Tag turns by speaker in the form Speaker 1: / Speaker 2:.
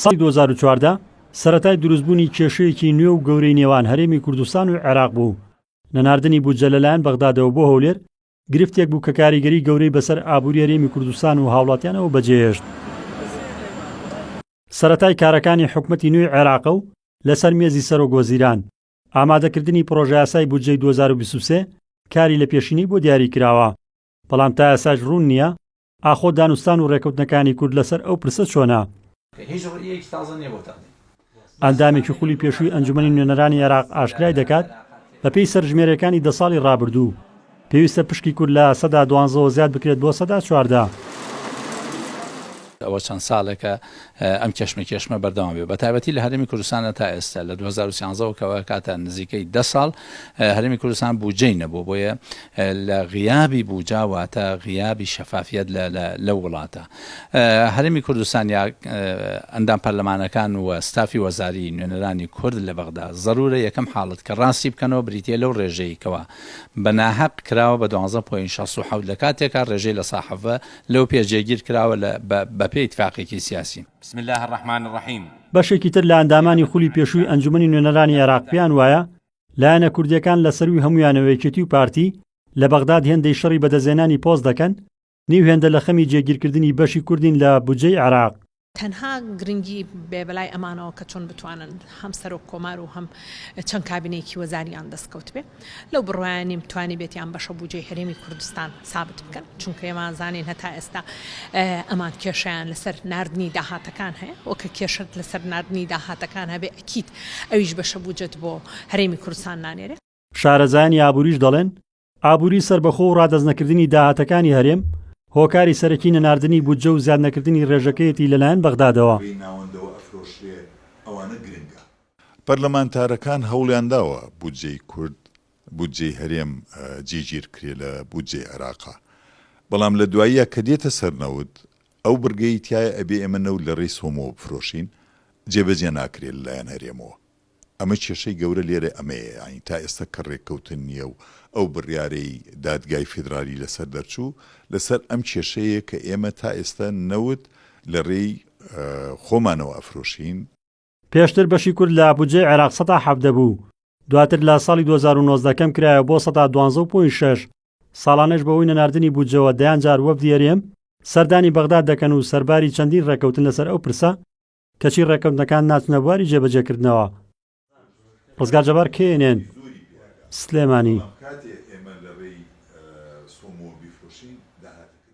Speaker 1: ساڵی دوو هەزار و چواردە سەرەتای دروستبوونی کێشەیەکی نوێ و گەورەی نێوان هەرێمی کوردستان و عێراق بوو. نەناردنی بودجە لەلایەن بەغدادەوە بۆ هەولێر گرفتێک بوو کە کاریگەری گەورەی بەسەر ئابووری هەرێمی کوردستان و هاوڵاتیانەوە بەجێهێشت. سەرەتای کارەکانی حکومەتی نوێی عێراقە و لەسەر مێزی سەرۆکوەزیران، ئامادەکردنی پڕۆژەیاسای بودجەی دوو هەزار و بیست و سێ کاری لەپێشینەی بۆ دیاریکراوە، بەڵام تا ئێستاش روون نییە ئاخۆ دانوستان و رێکەوتنەکانی کورد لەسەر ئەو پرسە چۆنە؟ هیچ ڕییەکی تازە نییە بۆ تەقدیم. ئەندامێکی خولی پێشووی ئەنجومەنی نوێنەرانی عێراق ئاشکرای دەکات، بەپێی سەرژمێرییەکانی دە ساڵی ڕابردوو، پێویستە پشکی کورد لە سەدا دوانزەوە زیاد بکرێت بۆ سەدا چواردە.
Speaker 2: ئەوە چەند ساڵێکە ئەم کێشمەکێشمە بەردەوام بێت بەتایبەتی لە هەرێمی کوردستاندا تا ئێستا لە دوو هەزار و سیانزە وە کەوە کاتە نزیکەی دە ساڵ هەرێمی کوردستان بودجەی نەبوو بۆیە لە غیابی بوجا واتە غیابی شەفافیت لە لە وڵاتە هەرێمی کوردستان یا ئەندام پەرلەمانەکان و ستافی وەزاری نوێنەرانی کورد لە بەغدا ضرورە یەکەم حاڵت کە ڕاستی بکەنەوە بریتە لەو ڕێژەیەکەوە بە ناهەق کراوە بە 12 پوین 16 لە کاتێکا ڕێژەی لە ساحەڤە لەو پێش جێگیر کراوە لە بە بە پێی ئیتفاقێکی سیاسی. بسم اللە الرحمن
Speaker 3: الرحیم. بەشێکی تر لە
Speaker 1: ئەندامانی خولی پێشووی ئەنجومەنی نوێنەرانی عێراق پێیان وایە لایەنە کوردییەکان لە سەرووی هەموویانەوە یەکێتی و پارتی لە بەغداد هێندەی شەڕی بەدەستهێنانی پۆست دەکەن، نیو هێندە لە خەمی جێگیرکردنی بەشی کوردین لە بودجەی عێراق. تەنها
Speaker 4: گرنگی بێ بەلای ئەمانەوە کە چۆن بتوانن هەم سەرۆک کۆمار و هەم چەند کابینەیەکی وەزاریان دەستکەوت بێ لەو بڕوایە نیم توانیبێتیان بەشە بوجەی هەرێمی کوردستان سابت بکەن چونکە ئێمان زانین هەتا ئێستا ئەمان کێشیان لەسەر ناردنی داهاتەکان هەیە وە کە کێشت لەسەر ناردنی داهاتەکان هەبێ ئەکید ئەویش بەشە بوجەت بۆ هەرێمی کوردستان نانێرێ. شارەزایانی
Speaker 1: ئابووریش دەڵێن، ئابووری سەربەخۆ و ڕادەستنەکردنی داهاتەکانی هەرێم، هۆکاری سەرەکی نەناردنی بودجە و زیادنەکردنی ڕێژەکەیەتی لەلایەن بەغدادەوە.
Speaker 5: پەرلەمانتارەکان هەوڵیانداوە بودجەی کورد، بودجەی هەرێم جێگیرکرێ لە بودجەی عێراقا، بەڵام لە دواییا کە دێتە سەر نەوت، ئەو بڕگەی تیایە ئەبێ ئێمە نەوت لە رێی سۆمۆوە بفرۆشین، جێبەجێ ناکرێ لەلایەن هەرێمەوە. ئەمە کێشەی گەورە لێرە ئەمەیە، یانی تا ئێستا کە رێککەوتن نییە و ئەو بڕیارەی دادگای فیدرالی لەسەر دەرچوو، لەسەر ئەم کێشەیە کە ئێمە تا ئێستا نەوت لە رێی خۆمانەوە ئەفرۆشین. پێشتر
Speaker 1: بەشی کورد لە بودجەی عێراق سەتا حەڤدە بوو، دواتر لە ساڵی دوو هەزار و نۆزدە کەم کرایەوە بۆ سەتا دوانزە و پۆینت شەش، ساڵانەش بەهۆی نەناردنی بودجەوە دەیان جار وەفدی هەرێم سەردانی بەغداد دەکەن و سەرباری چەندین رێککەوتن لەسەر ئەو پرسە، کەچی ڕێکەوتنەکان ناچنە بواری جێبەجێکردنەوە. ڕزگار جەبار کێنێن سلێمانی.